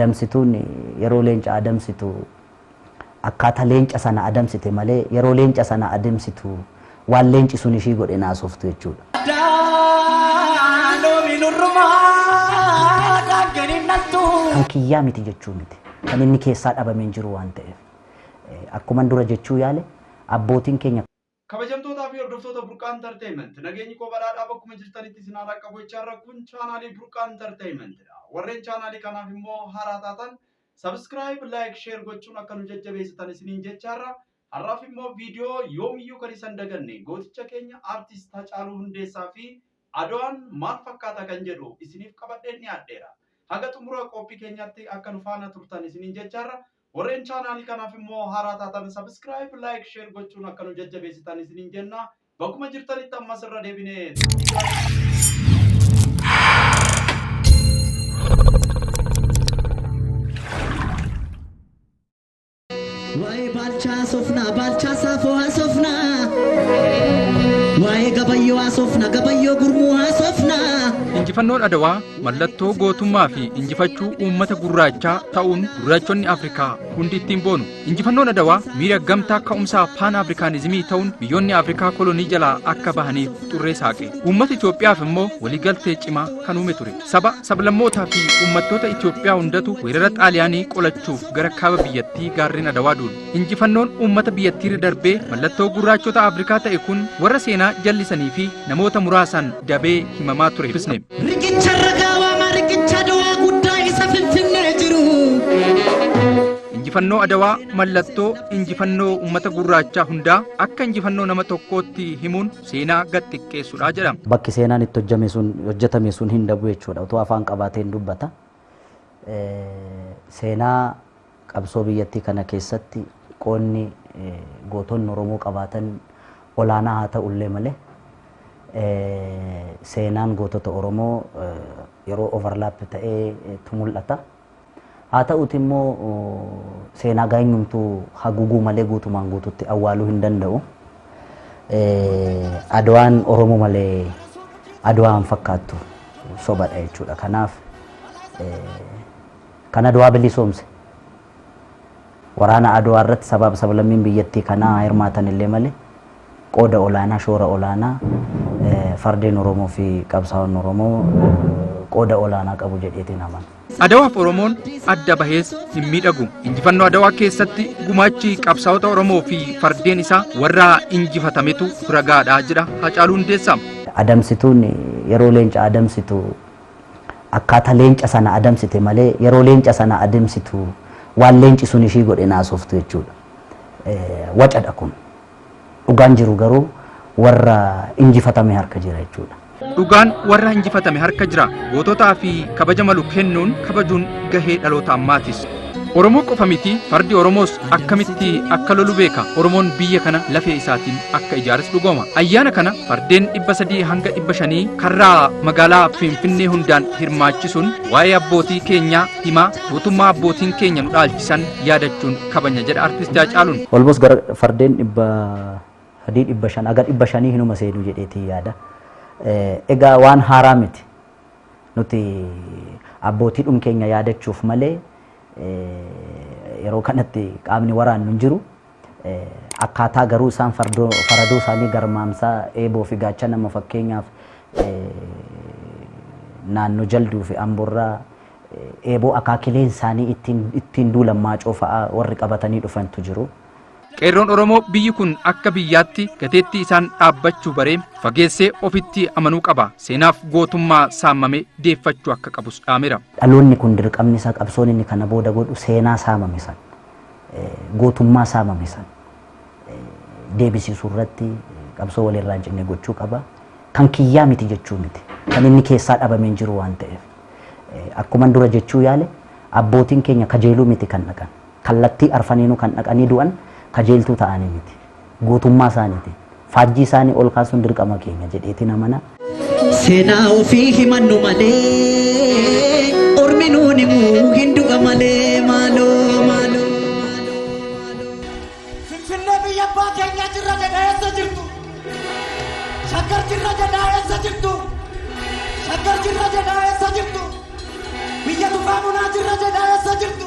Adamsituun yeroo leenca adamsitu akkaataa leenca sana adamsite malee yeroo leenca sana ademsitu waan leenci sun ishii godhe hin haasoftu jechuudha. Addaa loomi nurrumaa daangan hin dhaltu. Kan kiyyaa miti jechuu miti. Kan inni keessaa dhabame hin jiru waan ta'eef. Akkuman dura jechuu yaale abbootiin keenya. Kabajamtootaa fi hordoftoota Burqaa Entertainment, nageenyi koo badhaadhaa bakkuma jirtanitti isin haa dhaqqabu jechaa irra kun chaanaalii Burqaa Entertainment dha. Warreen chaanaalii kanaaf immoo haaraa taatan Subscribe, Like, Share gochuun akka nu jajjabeessitan isiniin jechaa irra har'aaf immoo viidiyoo yoomiyyuu kan isan daganne gooticha keenya Artist Hacaaluu Hundeessaa fi Adwaan maal fakkaata kan jedhu isiniif qabadheen dhiyaadheera. Haga xumura qophii keenyaatti akka nu faana turtan isiniin jechaa irra Warreen chaanaalii kanaaf immoo haaraa taatan subscribe, like, share gochuun akka nu jajjabeessitan isiniin jenna. Bakkuma jirtanitti ammas irra deebinee namni jiraatu. Waa'ee baalchaa haasofnaa, baalchaa saafoo haasofnaa. Waa'ee gabayyoo haasofna, gabayyoo gurmuu haasofnaa. Injifannoon Adawaa Mallattoo gootummaa fi injifachuu uummata gurraachaa ta'uun gurraachonni Afrikaa hundi ittiin boonu. Injifannoon Adawaa miira gamtaa ka'umsaa paan Afrikaanizimii ta'uun biyyoonni Afrikaa kolonii jalaa akka bahaniif xurree saaqe. Uummata Itoophiyaaf immoo waliigaltee cimaa kan uume ture. Saba, sablammootaa fi uummattoota Itoophiyaa hundatu weerara Xaaliyaanii qolachuuf gara kaaba biyyattii gaarreen Adawaa duule. Injifannoon uummata biyyattiirra darbee mallattoo gurraachota Afrikaa ta'e kun warra seenaa jallisanii fi namoota muraasaan dabee himamaa ture dubbisne. Riqicha irra gaawama riqicha du'aa guddaa isa finfinnee jiru. Injifannoo Adawaa mallattoo injifannoo uummata gurraachaa hundaa akka injifannoo nama tokkootti himuun seenaa gad xiqqeessudha jedhama. bakki seenaan itti hojjame sun hojjetame sun hin dhabu jechuudha utuu afaan qabaatee hin dubbata Eh, seenaa Qabsoo biyyattii kana keessatti qoodni gootonni Oromoo qabaatan olaanaa haa ta'u illee malee, seenaan gootota Oromoo yeroo overlap ta'ee tu mul'ata. Haa ta'uuti immoo seenaa gaayyumtu haguguu malee guutumaan guututti awwaaluu hin danda'u. Adwaan Oromoo malee Adwaa hin fakkaattu sobadha jechuudha. Kanaaf Kan Adwaa bilisoomse. Waraana Adwaa irratti sabaaf sablammiin biyyattii kanaa haa hirmaatan illee malee qooda olaanaa, shoora olaanaa fardeen Oromoo fi qabsaa'onni Oromoo qooda olaanaa qabu jedheeti hin amanu. Adawaaf Oromoon adda bahees hin miidhagu. Injifannoo Adawaa keessatti gumaachi qabsaa'ota Oromoo fi fardeen isaa warra injifatametu ragaadha jedha Hacaaluu Hundeessaa. Adamsituun yeroo leenca adamsitu Akkaataa leenca sana adamsite malee yeroo leenca sana ademsitu waan leenci sun ishii godhe hin haasoftu jechuudha. Wacadha kun. Dhugaan jiru garuu warra injifatame harka jira jechuudha. Dhugaan warra injifatame harka jira. Goototaa fi kabaja malu kennuun kabajuun gahee dhaloota ammaatis. Oromoo qofa miti fardi Oromoos akkamitti akka lolu beeka. Oromoon biyya kana lafee isaatiin akka ijaares dhugooma. Ayyaana kana fardeen 300 hanga 500 karraa magaalaa Finfinnee hundaan hirmaachisuun waa'ee abbootii keenyaa himaa gootummaa abbootiin keenya nu dhaalchisan yaadachuun kabanya jedha Artisti Haacaaluun. Almost gara fardeen 300, 500 haga 500 hinuma seenu jedheetii yaada. Egaa waan haaraa miti. Nuti abbootiidhum keenya yaadachuuf malee yeroo kanatti qaamni waraannu hin jiru. Akkaataa garuu isaan faradoo isaanii garmaamsaa eeboo fi gaachana amma fakkeenyaaf naannoo jalduu fi amborraa eeboo akaakileen isaanii ittiin duulan maacoo fa'aa warri qabatanii dhufantu jiru. Qeerroon Oromoo biyyi kun akka biyyaatti gateettii isaan dhaabbachuu baree fageessee ofitti amanuu qaba. Seenaaf gootummaa saamame deeffachuu akka qabus dhaamera. Dhaloonni kun dirqamni isaa qabsoon inni kana booda godhu seenaa saamame san, gootummaa saamame san deebisiisuu irratti qabsoo wal irraa hin cinne gochuu qaba. Kan kiyyaa miti jechuu miti. Kan inni keessaa dhabame hin jiru waan ta'eef. Akkuman dura jechuu yaale abbootiin keenya kajeeluu miti kan dhaqan. Kallattii arfaniinuu kan dhaqanii du'an kajeeltuu ta'aanii miti. Guutummaa isaaniitiin. Faajjii isaanii ol kaasuun dirqama keenya jedheetiin amana. Seenaa ofii himannu malee ormi nuun himu hin du'a malee maaloo maaloo maaloo. Finfinnee biyya abbaa keenyaa jirra jedhaa eessa jirtu? Shaggar jirra jedhaa eessa jirtu? Shaggar jirra jedhaa eessa jirtu? Biyya tufaa bunaa jirra jedhaa eessa jirtu?